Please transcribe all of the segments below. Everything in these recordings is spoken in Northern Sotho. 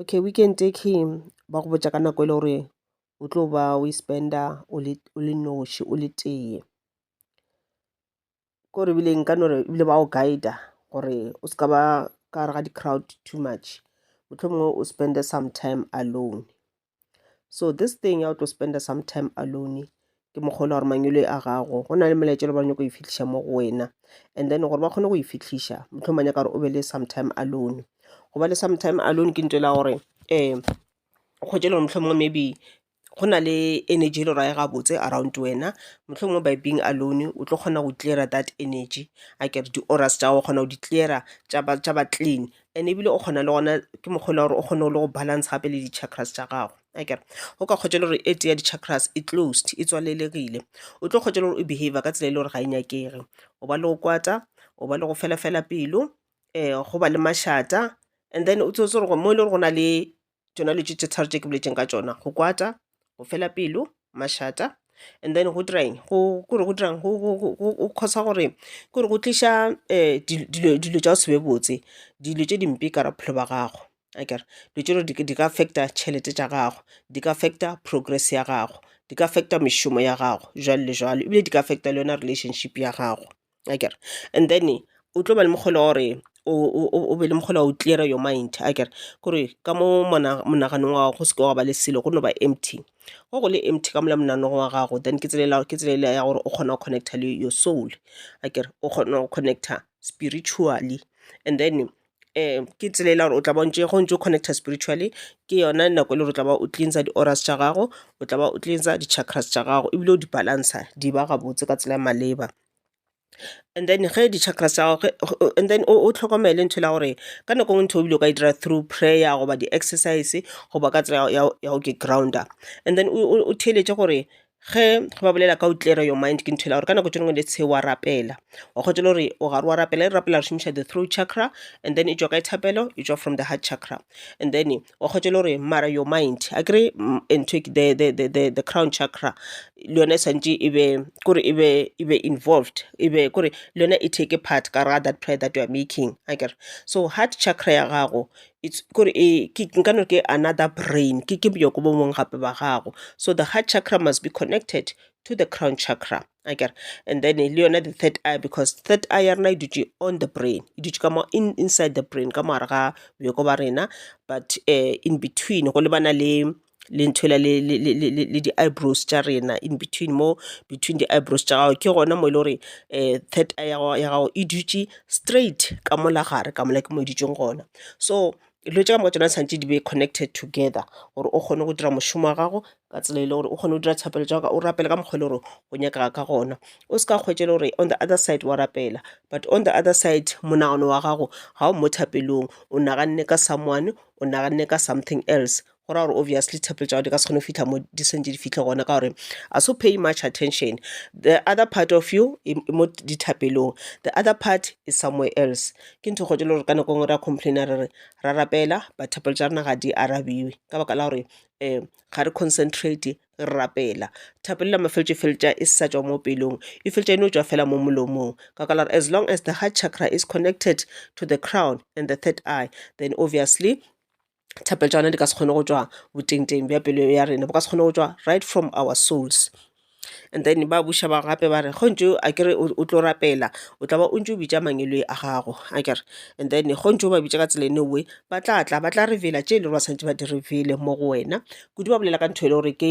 Okay weekend e key ba go botša ka nako e le gore o tlo ba o e spend-a o le o le noši o le tee kore ebile nka no re ebile ba go guide-a gore o se ka ba ka gare ga di-crowd too much mohlomongwe o spend-e some time alone. so this thing ya o tlo spend some time alone ke mokgwa ola gore mangwele a gago go na le melaetša le ba nyako e fitlhiša mo go wena and then gore ba kgone go e fitlhiša motlho manya ka gore o be le some time alone go ba le some time alone ke ntela gore um o kgwetše le gore motlho mongwe maybe go na le energy le rae gabotse around wena motlho mongwe by being alone o tlo kgona go clear that energy a kere di-auras tša gago kgona go di clear tša ba clean and ebile o kgona le gona ke mokgwa le gore o kgone le go balance gape le di-chakras tša gago akere o ka kgotša le gore e tee ya di-chakras e closed e tswalelegile o tlo kgotša le gore o behavior ka tsela e le gore ga e nyakege o ba le go kwata o ba le go fela fela pelo um go ba le mašata and then o tsebe gore mo e le gore go na le tšona dilo tše tharo tše ke boletšego ka tšona, go kwata, go fela pelo, mašata and then go dira eng go cause-a gore ke gore go tliša dilo tša go se be botse, dilo tše dimpe ka gare ga bophelo bja gago akere. Dilo tše dingwe di ka affect-a tšhelete tša gago, di ka affect-a progress ya gago, di ka affect-a mešomo ya gago jwalo le jwalo ebile di ka affect-a le yona relationship ya gago. akere and then o tlo ba le mokgole wa gore o be le mokgole wa go clearer your mind akere kore ka mo monaganong wa gago go seke wa ba le selo go no ba empty ge go le empty ka mo la monagano wa gago then ke tsela yela ya gore o kgona go connecta le your soul akere o kgona go connecta spiritually and then ke tsela e le ya gore o tla ba o ntše ge o ntše o connecta spiritually ke yona nako e le gore o tla ba o cleanser di auras tša gago, o tla ba o cleanser di chakras tša gago ebile o di balansa di ba gabotse ka tsela e maleba. And then ge di chakras tša gago, and then o hlokomele ntho e le ya gore ka nako e nngwe ntho e o bile o ka e dira through prayer goba di exercise goba ka tsela ya go ke ground-a and then o theeletše gore Ge ba bolela ka go clear your mind ke nthwela gore ka nako tše dingwe let's say wa rapela wa kgotša le gore o gare wa rapela e re rapela re šomiša the throat chakra and then e tšwa kae thapelo e tšwa from the heart chakra. And then wa kgotša le gore mara your mind akere ntho e the the the the the crown chakra le yona e swantše e be kore e be e be involved e be kore le yona e take part ka gare ga that prayer that you are making akere. So heart chakra ya gago kore nka no re ke another brain ke bjoko bo bongwe gape ba gago. So the heart chakra must be connected to the crown chakra akere. And then le yona the third eye because third eye ya rena e dutše on the brain, e dutše ka mo inside the brain ka mo gare ga bjoko ba rena but in between go lebana le. le ntho yela le le le le le di eyebrows tša rena in between mo, between di eyebrows tša gago, ke gona mo e le gore um third eye ya ya gago e dutše straight ka mo la gare ka mola ke mo e dutšego gona. So dilo tše ka moka tšona di swanetše di be connected together gore o kgone go dira mošomo wa gago ka tsela e le gore o kgone go dira thapelo tša gago, o rapele ka mokgwa e le gore o nyakega ka gona. O se ka hwetša e le gore on the other side wa rapela but on the other side monagano wa gago ga o mo thapelong, o naganne ka someone, o naganne ka something else, go raya gore obviously tshepelo tša gagwe di ka se kgone go fitlha mo di sentše di fihle gona ka gore a so pay much attention the other part of you e e mo dithapelong the other part is somewhere else ke ntho e kgolo e le gore ka nako e nngwe re a complain-a re re ra rapela but thapelo tša rena ga di arabiwe ka baka la gore um ga re concentrate re rapela thapelo ya mafeletšo e feletša e sa tšwa mo pelong e feletša e no tšwa fela mo molomong ka baka la gore as long as the heart chakra is connected to the crown and the third eye then obviously thapo tša rena di ka se kgone go tšwa botengteng bja pelo ya rena bo ka se kgone go tšwa right from our souls. And then ba buša ba gape ba re ge o ntše a kere o tlo rapela o tla ba o ntše o bitša mangwele a gago akere. And then ge o ntše o ba bitša ka tsela eno oe ba tla tla ba tla reveal-a tše e le gore ba swanetše ba di reveal-e mo go wena. Kudu ba bolela ka ntho e le gore ke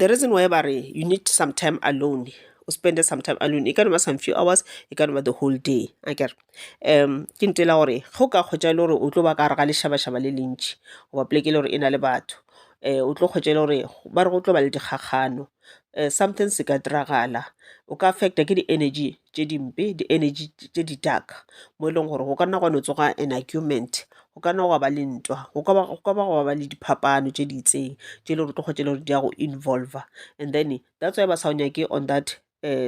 The reason why ba re you need some time alone, o spend-e some time alone, e ka no ba some few hours, e ka no ba the whole day. Akere? Ke ntho e le ya gore ge o ka hwetša e le gore o tlo ba ka gare ga lešabašaba le le ntši goba poleke e le gore e na le batho o tlo hwetša e le gore ba re go tlo ba le dikgakgano. something se ka diragala. O ka affectwa ke di-energy tše dimpe, di-energy tše di-dark mo e leng gore go ka nna gwa no tsoga an argument, go ka nna gwa ba le ntwa, go ka ba gwa ba le diphapano tše di itseng tše e le gore o tlo hwetša e le gore di a go involver. And then that's why ba sa o nyake on that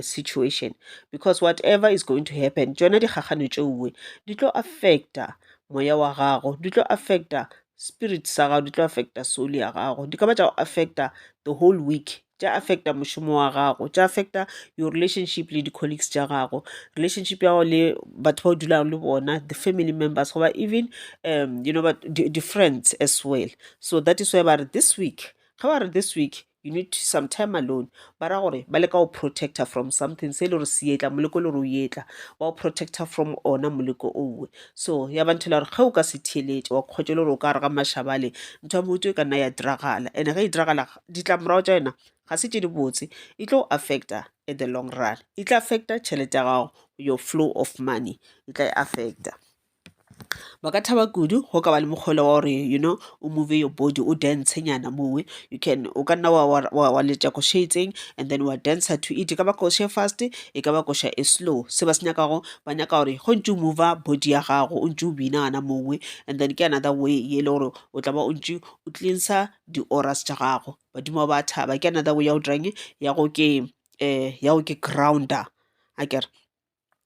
situation because whatever is going to happen tšona dikgakgano tšeoe di tlo affecta moya wa gago, di tlo affecta spirit sa gago di tlo affecta soul ya gago di ka ba tša go affecta the whole week tša affecta mošomo wa gago tša affecta your relationship le di-colleagues tša gago relationship ya gago le batho ba o dulago le bona the family members goba even um you know di-friends as well so that is why ba re this week ga ba re this week You need some time alone. Ba ra gore ba leka go protecta from something se e le gore se etla moleko le gore o etla ba go protecta from ona moleko owe so ya ba nthela gore ge o ka se theeletše wa kgotša e le gore o ka re ga mashabale ntho ya motho e ka nna ya diragala and ge e diragala ditlamorago tša yona ga se tše di botse e tlo affecta at the long run e tla affecta tšhelete ya gago your flow of money e tla e affecta Ba ka thaba kudu go ka ba le mokgole wa gore you know o move your body o dance nyana moo. You can o ka nna wa letša koša e itseng and then wa dancer to it, e ka ba koša e fast e ka ba koša e slow. Se ba se nyakago ba nyaka gore ge o ntši o mover body ya gago o ntši o bina gana moo and then ke another way e le gore o tla ba o ntši o cleanser di-orers tša gago. Badimo ba ba thaba ke another way ya go dirang eng ya go ke ya go ke grounder akere.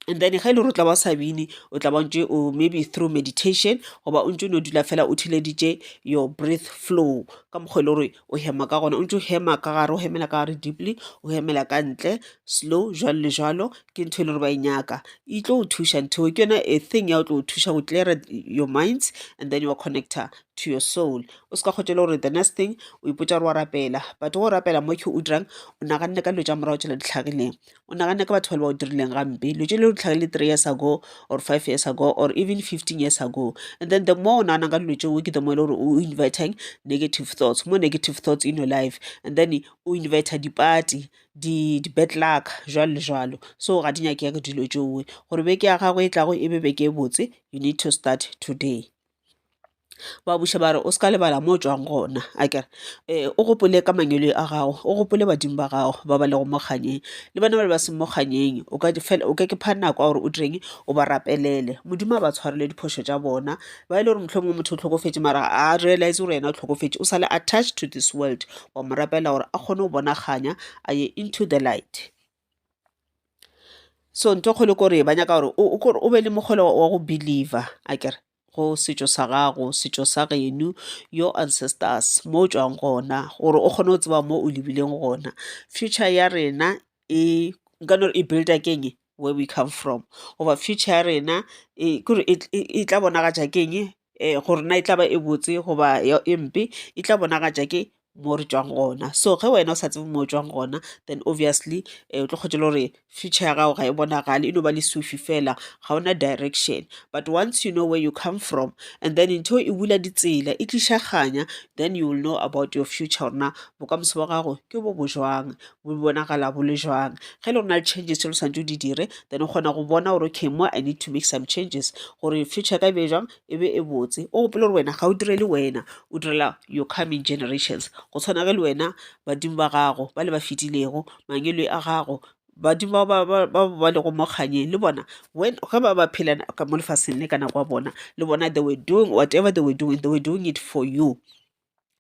and then ge e le gore o tla ba o sa bine o tla ba ntse o maybe through meditation goba o ntse o no dula fela o theleditše your breath flow ka mokgwa e le gore o hema ka gona o ntse o hema ka gare o hemela ka gare deeply o hemela ka ntle slow jwalo le jwalo ke ntho e le gore ba e nyaka e tlo o thuša ntho ke yona a thing ya o tlo o thuša go clear your minds and then your connector to your soul o se ka kgotse le gore the next thing o ipotsa gore wa rapela but go rapela mo ke o dirang o naganne ka dilo tša morago tšela di tlhagileng o nagane ka batho ba le ba o dirileng gampe lo tse le lo tlhagile three years ago or five years ago or even fifteen years ago and then the more o nagana ka dilo tseo ke the more e le gore o inviting negative thoughts more negative thoughts in your life and then o invita dipati di-bad luck jwalo le jwalo so ga di nyakege dilo tšeo gore beke ya gago e tlago e be beke e botse you need to start today. ba buša ba re, O se ka lebala mo o tšwago gona, a ke re, ee, o gopole ka mangwele a gago, o gopole badimo ba gago ba ba lego mo kgannyeng le bona bale ba seng mo kgannyeng. O ka o ka ke pha nako ya gore o direng? O ba rapelele. Modimo a ba tshwarele diphošo tša bona. Ba e le gore mohlomongwe motho o hlokofetše mara ga a realize gore yena o hlokofetše, o sa le attached to this world, wa mo rapela gore a kgone go bona kganya, a ye into the light. So ntho e kgolo ke gore ba nyaka gore o be le mokgolo wa go believer akere, go setšo sa gago, setšo sa geno, your ancestors, mo o tšwang gona gore o kgone go tseba mo o lebileng gona. Future ya rena e, nka no re e build-a ke eng? Where we come from goba future ya rena e, ke gore e tla bonagatša ke eng? gore na e tla ba e botse goba e mpe e tla bonagatša ke mo re tšwang gona. So ge wena o sa tsebe mo o tšwang gona then obviously o tlo kgotse le gore future ya gago ga e bonagale e no ba lesufi fela ga ona direction. But once you know where you come from and then ntho e bula ditsela e tliša kganya then you will know about your future gore na bokamoso ba gago ke bo bo jwang bo bonagala bo le jwang. Ge e le gore go na le changes tse o swanetše o di dire, then o kgona go bona gore, okay mo I need to make some changes gore future ya ka e be jwang, e be e botse. O gopole gore wena ga o direle wena, o direla your coming generations. Go tshwana ge le wena badimo ba gago ba le ba fetilego, mangwele a gago, badimo ba ba lego mo kgannyeng le bona ge ba be ba phela ka mo lefaseng le ka nako ya bona, le bona they were doing whatever they were doing, they were doing it for you.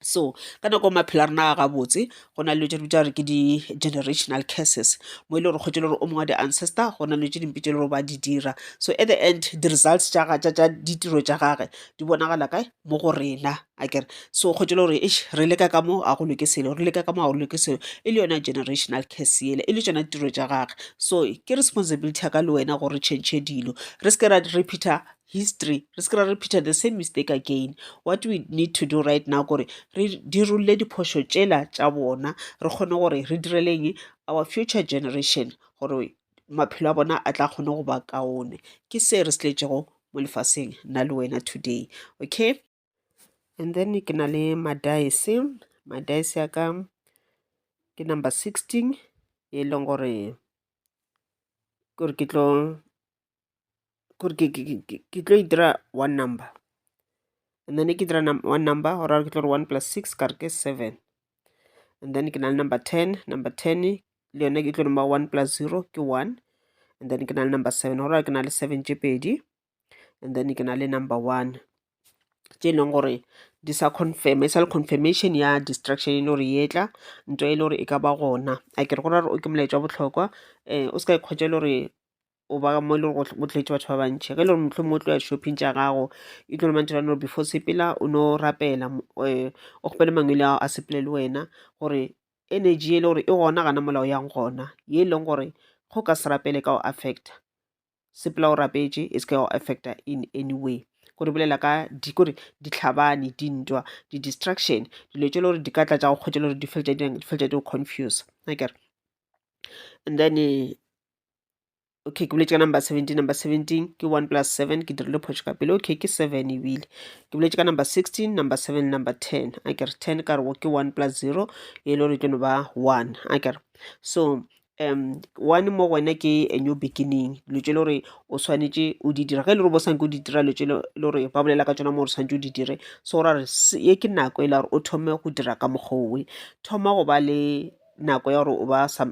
So ka nako ya maphelo a rena a gabotse go na le dilo tše re bitša gore ke di-generational curses mo e le gore kgwetše le gore o mongwe wa di-ancestor go na le dilo tše dimpe tše le gore ba di dira. So at the end di-results tša ditiro tša gage di bonagala kae, mo go rena akere. So kgwetše le gore eish re leka ka mo ga go loke selo, re leka ka mo ga go loke selo e le yona generational curse yela, e le tšona ditiro tša gage. So ke responsibility ya ka le wena gore re change dilo re se ke ra repeater history re se ke ra repeater the same mistake again what we need to do right now kore re dirolle diphošo tšela tša bona re kgone gore re direleng our future generation gore maphelo a bona a tla kgone go ba kaone ke se re se tletšego mo lefaseng nna le wena today okay. and then ke na le madice madice ya ka ke number sixteen e leng gore kore ke tlo kore ke tlo e dira one number and then ke dira one number go raya ke tlo re one plus six ka re ke seven and then ke na le number ten number ten le yone ke tlo nomba one plus zero ke one and then ke na le number seven go raya ke na le seven tše pedi and then ke na le number one tše e leng gore di sa confirm e sa le confirmation ya distraction e le gore e tla nto e le gore e ka ba gona a ke re gona gore o ke molaetša wa bohlokwa um o se ka ikgwetša e le gore o ba mo e le gore o tletse batho ba bantšhi ge e le gore mohlomong o tlo ya shopping tša gago e tlo mantho ba no before sepela o no rapela um o kgopele mangwele ao a sepele le wena gore energy e le gore e gona gana molao yang gona ye e leng gore go ka se rapele ka go affecta sepela o rapetše e seke go affecta in any way ko re bolela ka di kore ditlhabane dintwa di-distraction dilo tše le gore di ka tla tša go kgwetša le gore di feletša di feletša di go confuse akere and then eh, okay ke boletše ka number seventeen number seventeen ke one plus seven ke dirile phošo ka pele okay ke seven ebile ke boletše ka number sixteen number seven number ten a kere ten ka rego ke one plus zero e le gore e tlo no ba one a kere so one mo go wena ke a new beginning dilo tse e le gore o tshwanetse o di dira ge e le gore bo sa nyake go di dira dilo tse e le gore ba bolela ka tsona mo gore o tshwanetse o di dire so go ra gore ye ke nako e la gore o thome go dira ka mokgwa o we thoma go ba le nako ya gore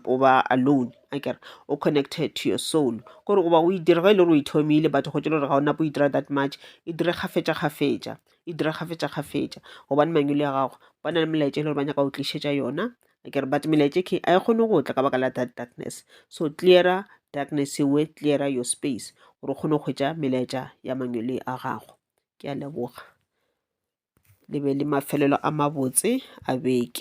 o ba alone akere o connected to your soul ke gore goba o e dira ge e le gore o e thomile but go tšwa e le gore ga o nako o e dira that much e dire kgafetša kgafetša e dire kgafetša kgafetša gobane mangwele a gago ba na le melaetša e le gore ba nyaka go tlišetša yona akere but melaetša e khe a e kgone go tla ka baka la that darkness so clearer darkness ewe clearer your space gore o kgone go hwetša melaetša ya mangwele a gago ke a leboga le be le mafelelo a mabotse a beke